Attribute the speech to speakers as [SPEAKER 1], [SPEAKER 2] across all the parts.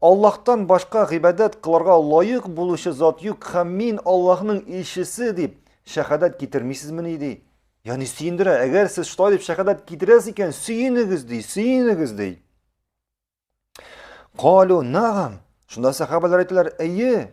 [SPEAKER 1] Аллаһтан башка гыйбадәт кылырга лаек булучы зат юк һәм мин Аллаһның илчесе дип шәһадәт китермисезмени ди. Яни сөендерә, әгәр сез шулай дип шәһадәт китерәс икән, сөенегез ди, сөенегез ди. Калу нагам. Шунда сахабалар әйтәләр, әйе,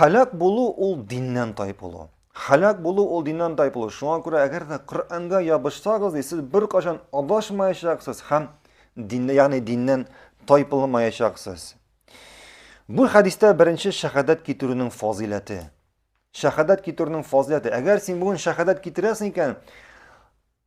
[SPEAKER 1] Халак булу ул диннән тайпылу. Халак булу ул диннән тайпылу. Шуңа күрә әгәр дә Коръәнгә ябышсагыз, ди, сез беркайчан адашмаячаксыз һәм динне, ягъни диннән тайпылмаячаксыз. Бу хәдистә беренче шәһадәт китерүнең фазиләте. Шәһадәт китерүнең фазиләте. Әгәр син бүген шәһадәт китерәсең икән,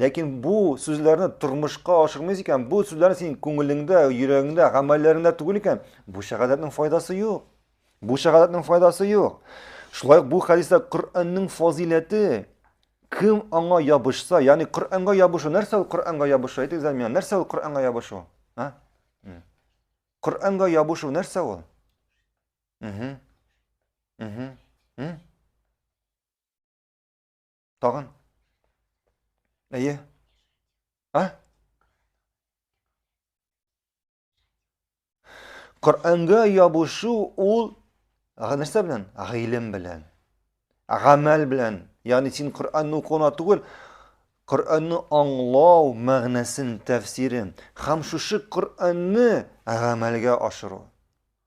[SPEAKER 1] Ләкин бу сүзләрне тормышка ашырмыйсың икән, бу сүзләрне синең күңелеңдә, йөрәгеңдә, гамәлләреңдә түгел икән, бу шәһадәтнең файдасы юк. Бу шәһадәтнең файдасы юк. Шулай бу хәдистә Коръәннең фазиләте кем аңа ябышса, ягъни Коръәнгә ябышу, нәрсә ул Коръәнгә ябышу? Әйтегез әле миңа, нәрсә ул Коръәнгә ябышу? А? Коръәнгә ябышу нәрсә ул? Угу. Угу. Тагын. Әйе. А? Коръәнгә ябышу ул нәрсә белән? Гыйлем белән. Гамәл белән. Ягъни син Коръәнне укуына түгел, Коръәнне аңлау мәгънәсен, тәфсирен һәм шушы Коръәнне гамәлгә ашыру.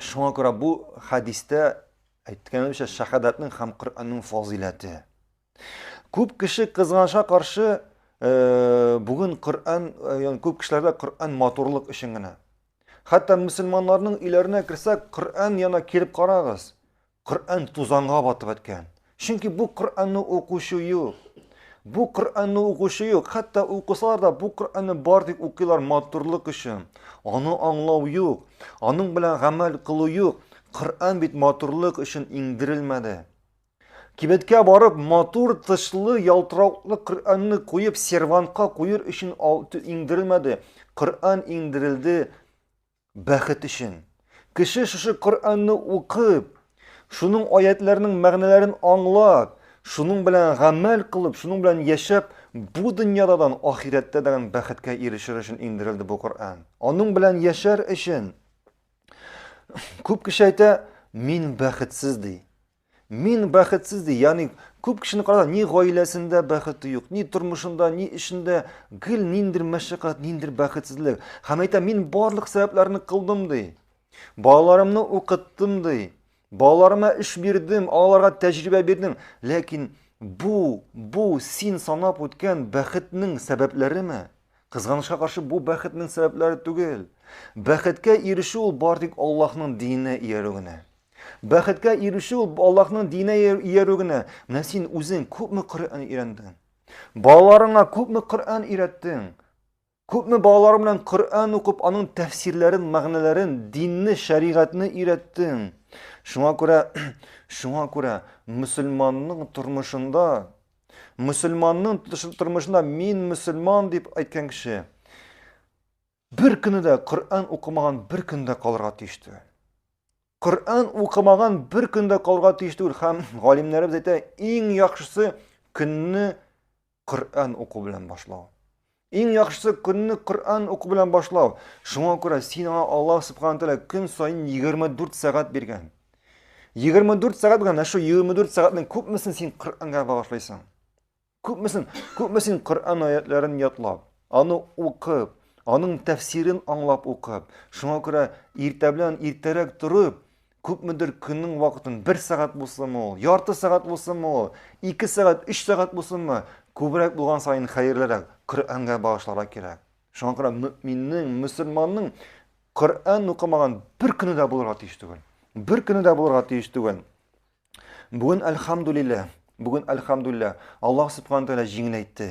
[SPEAKER 1] Шуңа күрә бу хәдистә әйткәнебезчә шәһадәтнең һәм Коръәннең фазыйләте. Күп кеше кызганычка каршы бүген Коръән, ягъни күп кешеләрдә Коръән матурлык өчен генә. Хәтта мусульманнарның өйләренә керсәк, Коръән яна килеп карагыз. Коръән тузанга батып беткән. Чөнки бу Коръәнне укучы юк. Бу Коръәнне укучы юк. Хәтта укысалар да, бу Коръәнне бар дип укыйлар матурлык өчен. Аны аңлау юк. Аның белән гамәл кылу юк. Коръән бит матурлык өчен иңдерелмәде. Кибеткә барып, матур тышлы, ялтырауклы Коръәнне куеп, сервантка куер өчен иңдерелмәде. Коръән иңдерелде Бәхет өчен, кеше шушы Коръәнне укып, шуның аятьләренең мәгънәләрен аңлап, шуның белән гамәл кылып, шуның белән яшәп, бу дөньядадан ахирәттә дигән бәхеткә ирешер өчен иңдерелде бу Коръән. Аның белән яшәр өчен. Күп кеше әйтә, мин бәхетсез ди. Мин бәхетсез ди, ягъни күп кешене караганда ни гаиләсендә бәхете юк, ни тормышында, ни эшендә гел ниндер мәшәкать, ниндер бәхетсезлек. Һәм әйтә, мин барлык сәбәпләрне кылдым ди. Балаларымны укыттым ди. Балаларыма эш бирдем, аларга тәҗрибә бирдем. Ләкин бу, бу син санап үткән бәхетнең сәбәпләреме? Кызганычка каршы бу бәхетнең сәбәпләре түгел. Бәхеткә ирешү ул бары тик Аллаһның диненә иярү генә. Бәхеткә ирешү ул Аллаһның диненә иярү генә. Менә син үзең күпме Коръән өйрәндең? Балаларыңа күпме Коръән өйрәттең? Күпме балалар белән Коръән укып, аның тәфсирләрен, мәгънәләрен, динне, шәригатьне өйрәттең? Шуңа күрә, шуңа күрә мөселманның тормышында, мөселманның тормышында мин мөселман дип әйткән кеше, Бер көне дә Коръән укымаган бер көндә калырга тиеш түгел. Коръән укымаган бер көндә калырга тиеш түгел һәм галимнәребез әйтә, иң яхшысы көнне Коръән уку белән башлау. Иң яхшысы көнне Коръән уку белән башлау. Шуңа күрә син аңа Аллаһ субхана тәгалә көн саен 24 сәгать биргән. 24 сәгать биргән, ә шу 24 сәгатьнең күпмесен син Коръәнгә багышлыйсың? Күпмесен, күпмесен Коръән аятләрен ятлап, аны укып, аның тәфсирен аңлап укып, шуңа күрә иртә белән иртәрәк торып, күпмедер көннең вакытын бер сәгать булсынмы ул, ярты сәгать булсынмы ул, ике сәгать, өч сәгать булсынмы, күбрәк булган саен хәерлерәк, Коръәнгә багышларга кирәк. Шуңа күрә мөминнең, мөселманның Коръән укымаган бер көне дә булырга тиеш түгел. Бер көне дә булырга тиеш түгел. Бүген әлхамдулилла, бүген әлхамдулилла, Аллаһ субхана тәгалә җиңеләйтте.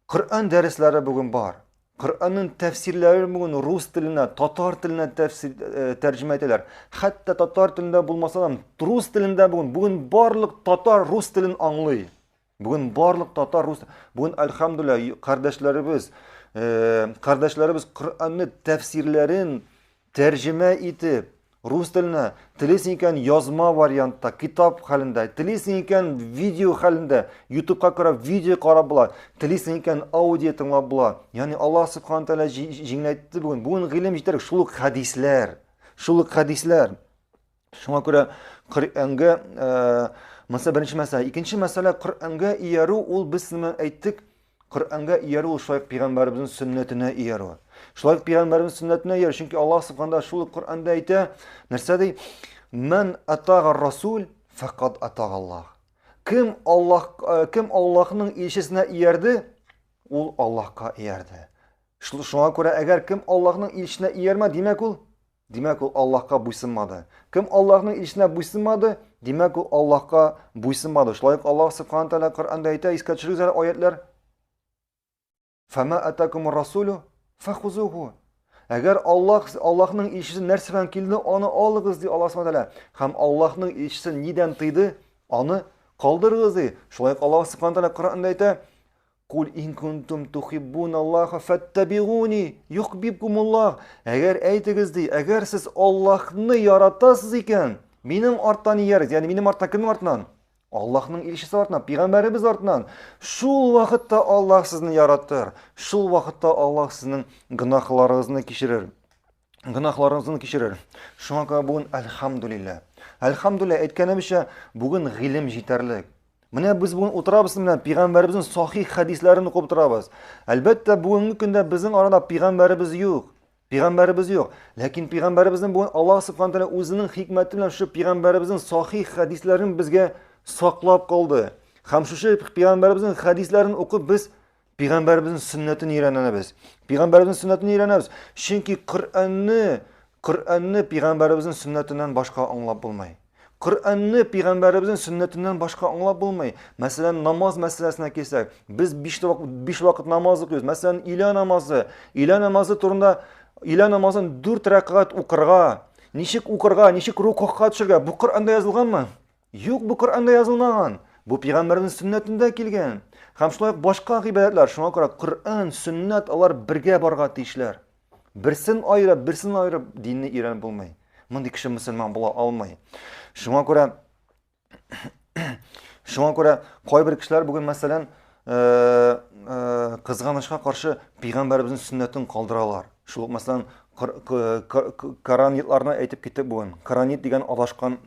[SPEAKER 1] Коръән дәресләре бүген бар. Коръәннең тәфсирләрен бүген рус теленә, татар теленә тәфсир э, тәрҗемә итәләр. Хәтта татар телендә булмаса да, рус телендә бүген, бүген барлык татар рус телен аңлый. Бүген барлык татар рус бүген альхамдулилла кардәшләребез э, кардәшләребез Коръәнне тәфсирләрен тәрҗемә итеп рус теленә телисең икән язма вариантта китап хәлендә телисең икән видео хәлендә ютубка карап видео карап була телисең икән аудио тыңлап була ягъни алла субхана тәгалә җиңеләйтте бүген бүген гыйлем җитәрлек шул ук хәдисләр шул ук хәдисләр Шуңа күрә Коръәнгә мәсәлә беренче мәсьәлә, икенче мәсьәлә Коръәнгә иярү ул без нимә әйттек? Коръәнгә иярү ул шулай пәйгамбәребезнең сөннәтенә иярү. Шулай пәйгамбәребезнең сөннәтенә иярү, чөнки Аллаһ субханда шул Коръәндә әйтә, нәрсә ди? Мен атага расул факат атага Аллаһ. Кем Аллаһ кем Аллаһның илчесенә иярде, ул Аллаһка иярде. Шуңа күрә әгәр кем Аллаһның илчесенә иярмә, димәк ул Димәк, ул Аллаһка буйсынмады. Кем Аллаһның илчесенә буйсынмады, димәк, ул Аллаһка буйсынмады. Шулай ук Аллаһ субхана тәгалә Коръәндә әйтә, искә төшерегез әле аятлар. Фама атакумур расулю фахузуху. Әгәр Аллаһ Аллаһның илчесе нәрсә белән килде, аны алыгыз ди Аллаһ субхана тәгалә. Һәм Аллаһның илчесе нидән тыйды, аны калдырыгыз ди. Шулай ук Аллаһ субхана тәгалә Коръәндә әйтә, Куль ин кунтум тухиббун Аллаха фәттәбигуни юхбибкумуллах. Әгәр әйтегез ди, әгәр сез Аллаһны яратасыз икән, минем арттан иярегез. Ягъни минем арттан кемнең артыннан? Аллаһның илчесе артыннан, пигамбәребез артыннан. Шул вакытта Аллаһ сезне яратыр. Шул вакытта Аллаһ сезнең гөнаһларыгызны кичерер. гөнаһларыгызны кичерер. Шуңа күрә бүген әлхамдулилла. Әлхамдулилла әйткәнебезчә, бүген гыйлем җитәрлек. Менә без бүген утырабыз менә пигамбәребезнең сахих хәдисләрен укып утырабыз. Әлбәттә, бүгенге көндә безнең арада пигамбәребез юк. Пигамбәребез юк. Ләкин пигамбәребезнең бүген Аллаһ субхана тәгалә үзенең хикмәте белән шу пигамбәребезнең сахих хәдисләрен безгә саклап калды. Һәм шушы пигамбәребезнең хәдисләрен укып без Пәйгамбәребезнең сөннәтен өйрәнәбез. Пәйгамбәребезнең сөннәтен өйрәнәбез. Чөнки Коръәнне, Коръәнне пәйгамбәребезнең сөннәтеннән башка аңлап булмый. Коръәнне пәйгамбәребезнең сөннәтеннән башка аңлап булмый. Мәсәлән, намаз мәсьәләсенә килсәк, без 5 вакыт 5 вакыт намаз укыйбыз. Мәсәлән, илә намазы, илә намазы турында илә намазын 4 рәкъгат укырга, ничек укырга, ничек рукуга төшергә, бу Коръәндә язылганмы? Юк, бу Коръәндә язылмаган. Бу пигамбәрнең сөннәтендә килгән. Һәм шулай ук башка гыйбадәтләр, шуңа күрә Коръән, сөннәт алар бергә барга тиешләр. Берсен аерып, берсен аерып динне өйрәнеп булмый. Мондый кеше мөселман була алмый. Шуңа күрә Шуңа күрә кайбер кешеләр бүген мәсәлән кызганычка каршы пигамбәребезнең сөннәтен калдыралар шул ук мәсәлән караннитларны әйтеп киттек бүген караннит дигән адашкан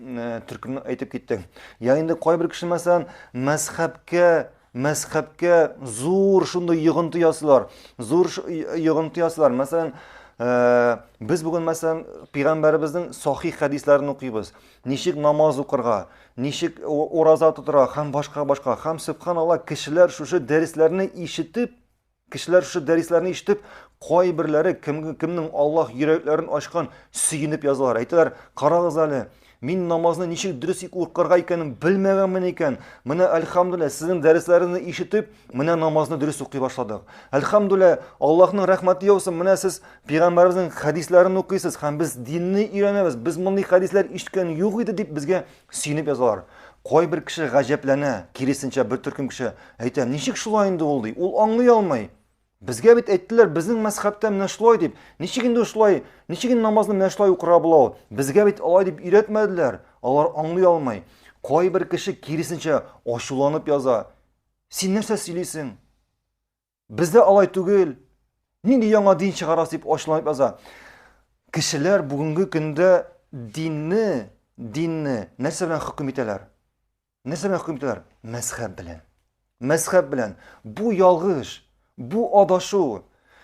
[SPEAKER 1] төркемне әйтеп киттек я инде кайбер кеше мәсәлән мәзхәбкә мәзхәбкә зур шундый йогынты ясыйлар зур йогынты ясыйлар мәсәлән без бүген мәсәлән пигамбәребезнең сахих хәдисләрен укыйбыз ничек намаз укырга, ничек ураза тотырга һәм башка башка. Һәм субханалла, кешеләр шушы дәресләрне ишетеп, кешеләр шушы дәресләрне ишетеп, кайберләре кем, кемнең Аллаһ йөрәкләрен ачкан сөенеп язалар. Әйтәләр, карагыз әле, мин намазны ничек дөрес укырга икәнен белмәгәнмен икән. Менә әлхамдулилла, сезнең дәресләрегезне ишетеп, менә намазны дөрес укый башладык. Әлхамдулилла, Аллаһның рәхмәте яусын, менә сез Пәйгамбәребезнең хәдисләрен укыйсыз һәм без динне өйрәнәбез. Без мондый хәдисләр ишеткән юк иде дип безгә сөенеп язалар. Кайбер кеше гаҗәпләнә, киресенчә бер төркем кеше әйтә, ничек шулай инде ул ди, ул аңлый алмый. Безгә бит әйттеләр, безнең мәзхәбтә менә шулай дип. Ничек инде шулай, ничек инде намазны менә шулай укырга була ул? Безгә бит алай дип өйрәтмәделәр. Алар аңлый алмый. Кайбер кеше киресенчә ачуланып яза. Син нәрсә сөйлисең? Бездә алай түгел. Нинди яңа дин чыгарасы дип ачуланып яза. Кешеләр бүгенге көндә динне, динне нәрсә белән хөкем итәләр? Нәрсә белән хөкем итәләр? Мәзхәб белән. Мәзхәб белән. Бу ялгыш, бу адашу.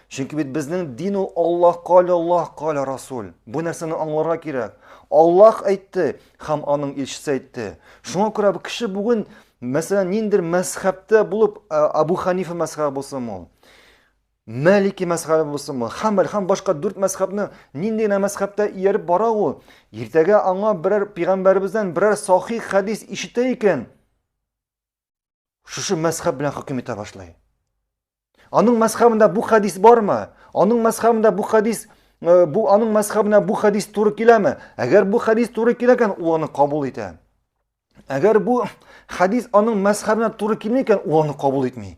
[SPEAKER 1] Чөнки бит безнең дин ул Аллаһ кале, Аллаһ кале Расул. Бу нәрсәне аңларга кирәк. Аллаһ әйтте, Хам аның илчесе әйтте. Шуңа күрә бу кеше бүген, мәсәлән, ниндер мәзхәбтә булып, Абу Ханифа мәзхәбе булсын ул. Мәлики мәзхәбе булсын ул. Хәмбәл һәм башка дүрт мәзхәбне нинди генә мәзхәбтә ияреп бара ул. Иртәгә аңа берәр пигамбәребездән берәр сахих хәдис ишетә икән. шушы мәзхәб белән хөкем итә башлый. Аның мәзхәбендә бу хәдис бармы? Аның мәзхәбендә бу хәдис э, бу аның мәзхәбенә бу хәдис туры киләме? Әгәр бу хәдис туры килә икән, ул аны кабул итә. Әгәр бу хәдис аның мәзхәбенә туры килми икән, ул аны кабул итми.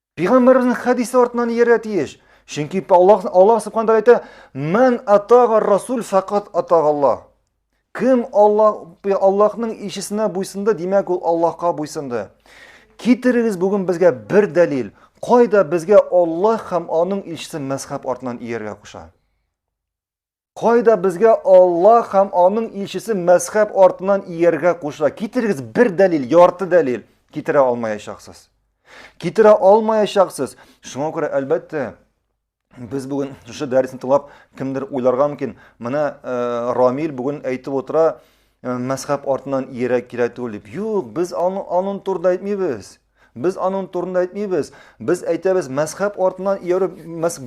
[SPEAKER 1] Пигамбарыбызның хәдисе артынан иярә тиеш. Чөнки Аллаһ Аллаһ субхана тәгалә әйтә: "Ман атага расул факат атагалла". Кем Аллаһ Аллаһның илчесенә буйсынды, димәк ул Аллаһка буйсынды. Китерегез бүген безгә бер дәлил, кайда безгә Аллаһ һәм аның илчесе мәзхәб артынан ияргә куша? Кайда безгә Аллаһ һәм аның илчесе мәзхәб артыннан ияргә куша? Китерегез бер дәлил, ярты дәлил. Китерә алмаячаксыз. Китерә алмаячаксыз. Шуңа күрә, әлбәттә, без бүген шушы дәресне тыңлап кемдер уйларга мөмкин. Менә э, Рамил бүген әйтеп утыра, э, мәзхәб артыннан иярә кирәк түгел дип. Юк, без аның аның турында әйтмибез. Без аның турында әйтмибез. Без әйтәбез, мәзхәб артыннан иярү,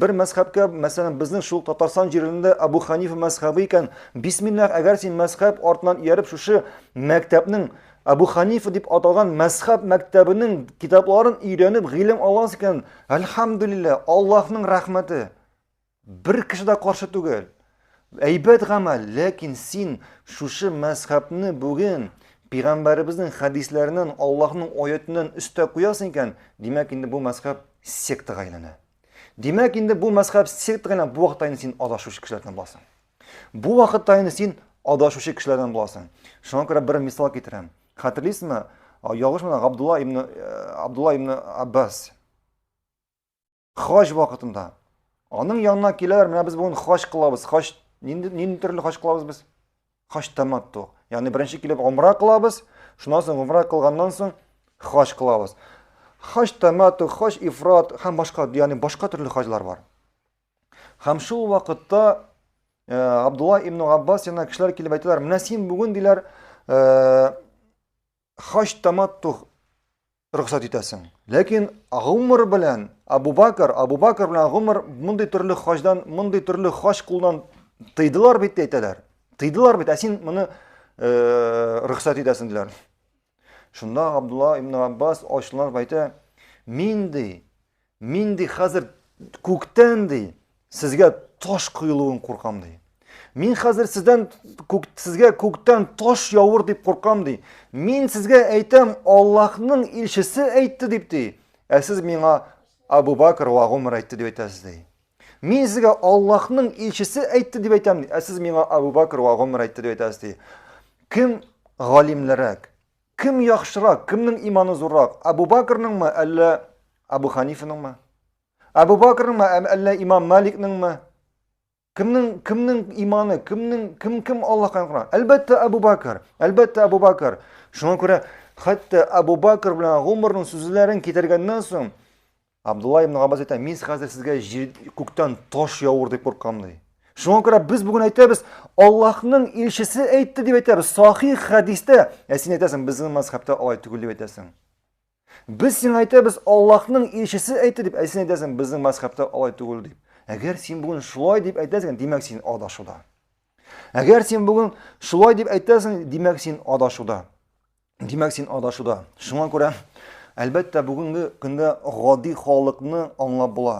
[SPEAKER 1] бер мәзхәбкә, мәсәлән, безнең шул Татарстан җирендә Абу Ханифа мәзхәбе икән, бисмиллах, әгәр син мәзхәб артыннан ияреп шушы мәктәпнең Абу Ханифа дип аталган мәзхәб мәктәбенең китапларын өйрәнеп гыйлем аласың икән, әлхәмдүлилләһ, Аллаһның рәхмәте. Бер кеше дә каршы түгел. Әйбәт гамәл, ләкин син шушы мәзхәбне бүген пигамбәребезнең хәдисләреннән, Аллаһның аятеннән өстә куясың икән, димәк инде бу мәзхәб сектага әйләнә. Димәк инде бу мәзхәб сектага әйләнә, бу вакытта инде син адашучы кешеләрдән буласың. Бу вакытта инде син адашучы кешеләрдән буласың. Шуңа күрә бер мисал китерәм. Хәтерлисезме? Ялгышмасам, Абдулла ибн э, Абдулла ибн Аббас Хаҗ вакытында аның янына киләләр, менә без бүген хаҗ кылабыз. Хаҗ нинди нинди төрле хаҗ кылабыз без? Хаҗ таматту. Ягъни беренче килеп умра кылабыз, шуннан соң умра кылганнан соң хаҗ кылабыз. Хаҗ таматту, хаҗ ифрат һәм башка, ягъни башка төрле хаҗлар бар. Һәм шул вакытта э, Абдулла ибн Габбас янына кешеләр килеп әйтәләр, менә син бүген диләр, э, хаҗ таматту рөхсәт итәсең. Ләкин гомер белән Абу Бакр, Абу Бакр белән гомер мондый төрле хаҗдан, мондый төрле хаҗ кулдан тыйдылар бит әйтәләр. Тыйдылар бит, ә син моны э, рөхсәт итәсең диләр. Шунда Абдулла ибн Аббас ачуланып әйтә, мин ди, Мин ди хәзер күктән ди сезгә таш коелуын куркам ди. Мин хәзер сездән күк, сезгә күктән таш явыр дип куркам ди. Мин сезгә әйтәм, Аллаһның илчесе әйтте дип ди. Ә сез миңа Абу Бакр ва Гомар әйтте дип әйтәсез ди. Мин сезгә Аллаһның илчесе әйтте дип әйтәм, ә сез миңа Абу Бакр ва Гомар әйтте дип әйтәсез ди. Кем галимлерәк? Кем яхшырак, кемнең иманы зуррак, Әбу Бәкрнеңме, әллә Әбу Ханифаныңмы? Әбу Бәкрнеңме, әллә имам Маликнеңме? Кемнең, кемнең иманы, кемнең, кем, кем Аллаһка якынрак? Әлбәттә, Әбу Бәкр, әлбәттә, Әбу Бәкр. Шуңа күрә, хәтта Әбу Бәкр белән Гомернең сүзләрен китергәннән соң, Абдулла ибн Габбас әйтә, мин хәзер сезгә җир күктән таш явыр дип куркам ди. Шуңа күрә без бүген әйтәбез, Аллаһның илчесе әйтте дип әйтәбез, сахих хәдистә. Ә син әйтәсең, безнең мәзхәбтә алай түгел дип әйтәсең. Без сиңа әйтәбез, Аллаһның илчесе әйтте дип, ә син әйтәсең, безнең мәзхәбтә алай түгел дип. Әгәр син бүген шулай дип әйтәсең, димәк син адашуда. Әгәр син бүген шулай дип әйтәсең, димәк син адашуда. Димәк, син адашуда. Шуңа күрә, әлбәттә, бүгенге көндә гади халыкны аңлап була.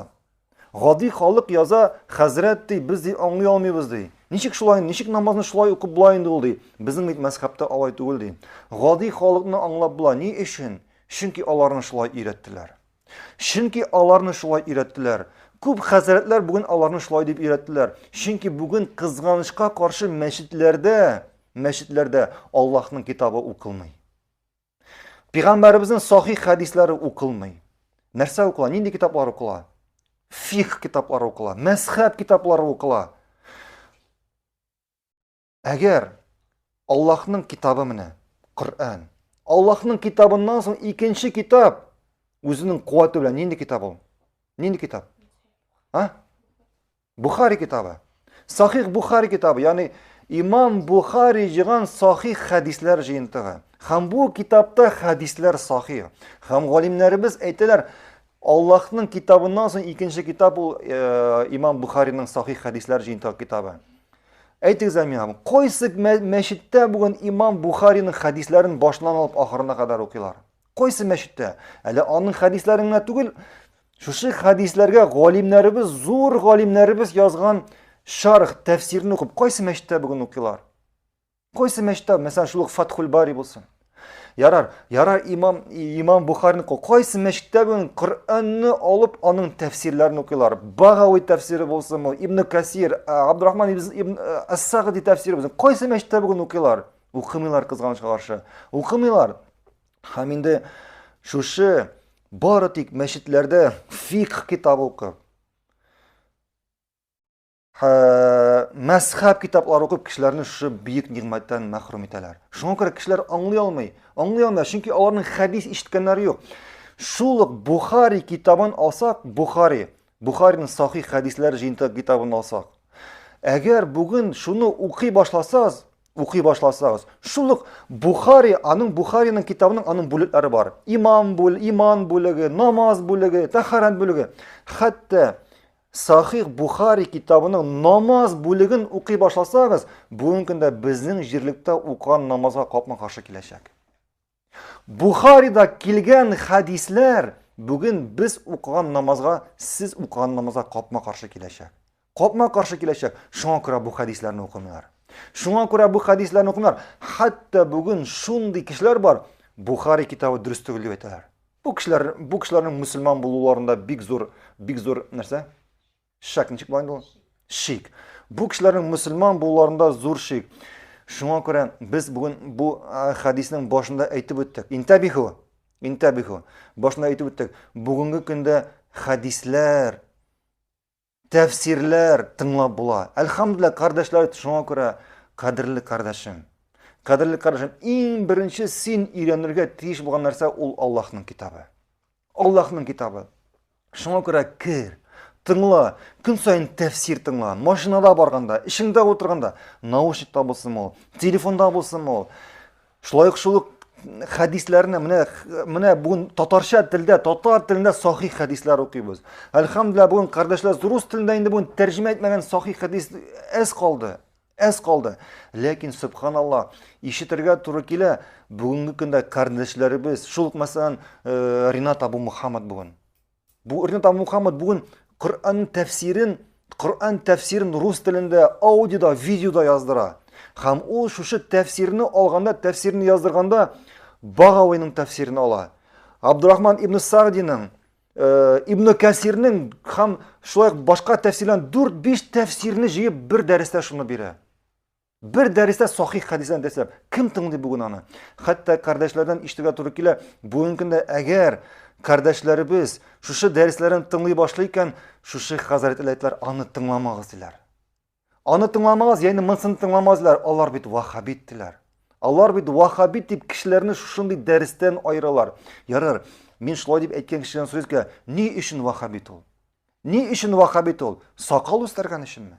[SPEAKER 1] Гади халык яза, хәзрәт ди, без ди аңлый алмыйбыз ди. Ничек шулай, ничек намазны шулай укып була инде ул ди. Безнең бит мәзхәбтә алай түгел ди. Гади халыкны аңлап була. Ни өчен? Чөнки аларны шулай өйрәттеләр. Чөнки аларны шулай өйрәттеләр. Күп хәзрәтләр бүген аларны шулай дип өйрәттеләр. Чөнки бүген кызганычка каршы мәчетләрдә, мәчетләрдә Аллаһның китабы укылмый. Пигамбәребезнең сахих хәдисләре укылмый. Нәрсә укыла? Нинди китаплар укыла? Фих китаплары укыла, мәзхәб китаплары укыла. Әгәр Аллаһның китабы менә, Коръән. Аллаһның китабыннан соң икенче китап үзенең куәте белән нинди китап ул? Нинди китап? А? Бухари китабы. Сахих Бухари китабы, ягъни Имам Бухари җыйган сахих хәдисләр җыентыгы. Һәм бу китапта хәдисләр сахих. Һәм галимнәребез әйтәләр, Аллаһның китабыннан соң икенче китап ул э, имам Бухариның сахих хәдисләр җыентыгы китабы. Әйтегез әле миңа, кайсы мәчеттә бүген имам Бухариның хәдисләрен башынан алып ахырына кадәр укыйлар? Кайсы мәчеттә? Әле аның хәдисләрен генә түгел, шушы хәдисләргә галимнәребез, зур галимнәребез язган шарх, тәфсирне укып, кайсы мәчеттә бүген укыйлар? Кайсы мәчеттә, мәсәлән, шул ук Фатхул Бари булсын. Ярар, ярар имам, имам Бухарин кайсы мәчеттә бүген Коръәнне алып, аның тәфсирләрен укыйлар. Багауи тәфсире булсынмы, Ибн Касир, Абдурахман ибн Ас-Сагди тәфсире булсын. Кайсы мәчеттә бүген укыйлар? Укымыйлар кызганычка каршы. Укымыйлар. Һәм инде шушы бары тик мәчетләрдә фикх китабы укып, мәзхәб китаплар укып кешеләрне шушы бөек нигъмәттән мәхрүм итәләр шуңа күрә кешеләр аңлый алмый аңлый алмый чөнки аларның хәдис ишеткәннәре юк шул ук бухари китабын алсак бухари бухариның сахих хәдисләр жыйынтыгы китабын алсак әгәр бүген шуны укый башласагыз укый башласагыз шул ук бухари аның бухариның китабының аның бүлекләре бар имам бүл иман бүлеге намаз бүлеге тәхарәт бүлеге хәтта Сахих Бухари китабының намаз бүлеген укый башласагыз, бүгенге көндә безнең җирлектә укыган намазга капма каршы киләчәк. Бухарида килгән хәдисләр бүген без укыган намазга, сез укыган намазга капма каршы киләчәк. Капма каршы киләчәк. Шуңа күрә бу хәдисләрне укымыйлар. Шуңа күрә бу хәдисләрне укымыйлар. Хәтта бүген шундый кешеләр бар, Бухари китабы дөрес түгел дип әйтәләр. Бу кешеләр, бу кешеләрнең мусульман булуларында бик зур, бик зур нәрсә? Шак ничек була инде Шик. Бу кешеләрнең мусульман булуларында зур шик. Шуңа күрә без бүген бу хадиснең башында әйтеп үттек. Интабиху. Интабиху. Башында әйтеп үттек. Бүгенге көндә хадисләр тәфсирләр тыңлап була. Әлхәмдүлилләһ, кардәшләр, шуңа күрә кадерле кардәшем. Кадерле кардәшем, иң беренче син өйрәнергә тиеш булган нәрсә ул Аллаһның китабы. Аллаһның китабы. Шуңа күрә кер, тыңла, көн саен тәфсир тыңла. Машинада барганда, эшеңдә утырганда, наушникта булсын ул, телефонда булсын ул. Шулай ук шул хәдисләрне менә менә бүген татарча телдә, татар телендә сахих хәдисләр укыйбыз. Әлхәмдулилла бүген кардәшләр рус телендә инде бүген тәрҗемә итмәгән сахих хәдис әз калды. Әз калды. Ләкин субханалла, ишетергә туры килә. Бүгенге көндә кардәшләребез, шул мәсәлән, э, Ринат Абу Мухаммад бүген Бу Ринатан Мухаммад бүген Коръән тәфсирен, Коръән тәфсирен рус телендә аудиода, видеода яздыра. Һәм ул шушы тәфсирне алганда, тәфсирне яздырганда Багавиның тәфсирен ала. Абдурахман ибн Сагдиның, э, ибн Кәсирнең һәм шулай башка тәфсирләр 4-5 тәфсирне җыеп бер дәрестә шуны бирә. Бер дәрестә сахих хәдисләр дәсләп, кем тыңлый бүген аны? Хәтта кардәшләрдән ишетергә туры килә, бүгенге көндә әгәр кардәшләребез шушы дәресләрен тыңлый башлый икән, шушы хәзрәт иләйтләр аны тыңламагыз диләр. Аны тыңламагыз, яны монсын тыңламагыз диләр, алар бит вахабит диләр. Алар бит вахабит дип кешеләрне шушындый дәрестән айыралар. Ярар, мин шулай дип әйткән кешедән сүз килә, ни өчен вахабит ул? Ни өчен вахабит ул? Сакал үстергән өченме?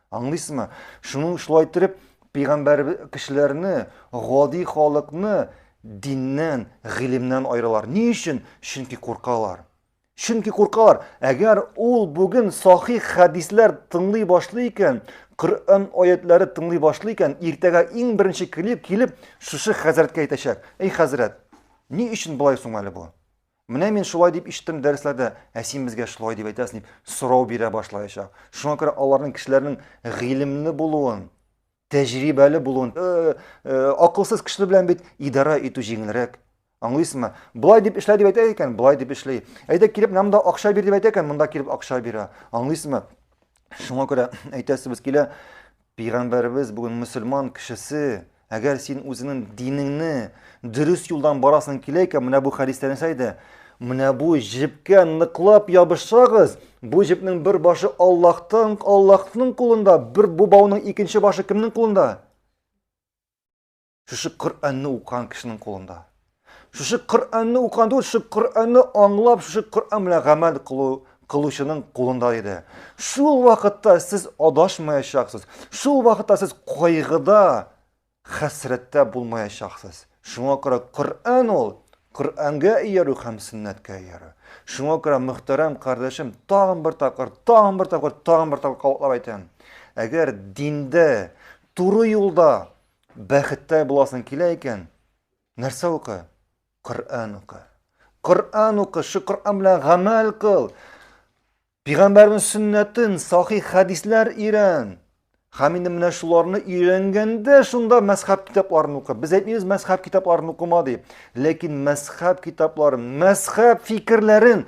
[SPEAKER 1] Аңлыйсызмы? Шуның шулай иттереп пәйгамбәр кешеләрне, гади халыкны диннән, гыйлемнән аералар. Ни өчен? Чөнки куркалар. Чөнки куркалар. Әгәр ул бүген сахих хәдисләр тыңлый башлый икән, Коръән аятләре тыңлый башлый икән, иртәгә иң беренче килеп, килеп шушы хәзрәткә әйтәчәк. Эй хәзрәт, ни өчен болай соң әле бу? Менә мин шулай дип ишеттем дәресләрдә, ә син безгә шулай дип әйтәсең дип сорау бирә башлаячак. Шуңа күрә аларның кешеләрнең гыйлемле булуын, тәҗрибәле булуын, э, э, акылсыз кеше белән бит идарә итү җиңелрәк. Аңлыйсыңмы? Болай дип эшлә дип әйтә икән, болай дип эшли. Әйдә килеп монда акча бир дип әйтә икән, монда килеп акча бирә. Аңлыйсыңмы? Шуңа күрә әйтәсебез килә, Пәйгамбәребез бүген мөселман кешесе, әгәр син үзеңнең динеңне дөрес юлдан барасың килә икән, менә бу хәдистә нәрсә әйтә? Менә бу җепкә ныклап ябышсагыз, бу җепнең бер башы Аллаһтан, Аллаһның кулында, бер бу бауның икенче башы кемнең кулында? Шушы Коръәнне укыган кешенең кулында. Шушы Коръәнне укыган түгел, шушы Коръәнне аңлап, шушы Коръән белән гамәл кылу кылучының кулында иде. Шул вакытта сез адашмаячаксыз. Шул вакытта сез кайгыда, хәсрәттә булмаячаксыз. Шуңа күрә Коръән ул Коръәнгә иярү һәм сөннәткә иярү. Шуңа күрә мөхтәрәм кардәшем, тагын бер тапкыр, тагын бер тапкыр, тагын бер тапкыр кабатлап әйтәм. Әгәр диндә, туры юлда Бәхеттә буласың килә икән, нәрсә укы? Коръән укы. Коръән укы, шу Коръән белән гамәл кыл. Пигамбәрнең сөннәтен, сахи хәдисләр өйрән. Һәм инде менә шуларны өйрәнгәндә шунда мәзхәб китапларын укы. Без әйтмибез мәзхәб китапларын укыма дип. Ләкин мәзхәб китапларын, мәзхәб фикерләрен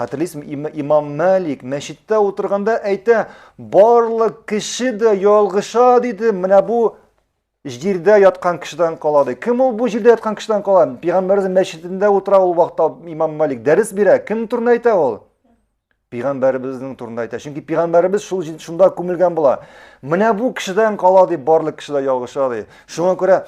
[SPEAKER 1] Хәтерлисем, имам Мәлик мәчеттә утырганда әйтә, барлык кеше дә ялгыша диде, менә бу җирдә яткан кешедән кала ди. Кем ул бу җирдә яткан кешедән кала? Пәйгамбәребез мәчетендә утыра ул вакытта имам Мәлик дәрес бирә. Кем турында әйтә ул? Пәйгамбәребезнең турында әйтә. Чөнки пәйгамбәребез шул шунда күмелгән була. Менә бу кешедән кала ди, барлык кеше дә ялгыша ди. Шуңа күрә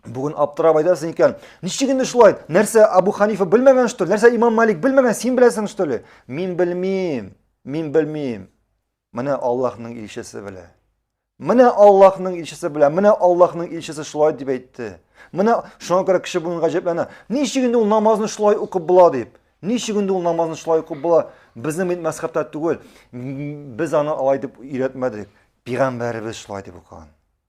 [SPEAKER 1] Бүген аптырап айтасың икән, ничек инде шулай? Нәрсә Абу Ханифа белмәгән что ли? Нәрсә Имам Малик белмәгән, син беләсең что ли? Мин белмим. Мин белмим. Менә Аллаһның илчесе белә. Менә Аллаһның илчесе белә. Менә Аллаһның илчесе шулай дип әйтте. Менә шуңа күрә кеше бүген гаҗәпләнә. Ничек инде ул намазны шулай укып була дип. Ничек инде ул намазны шулай укып була? Безнең бит мәсхәбтә түгел. Без аны алай дип өйрәтмәдек. Пигамбәребез шулай дип укыган.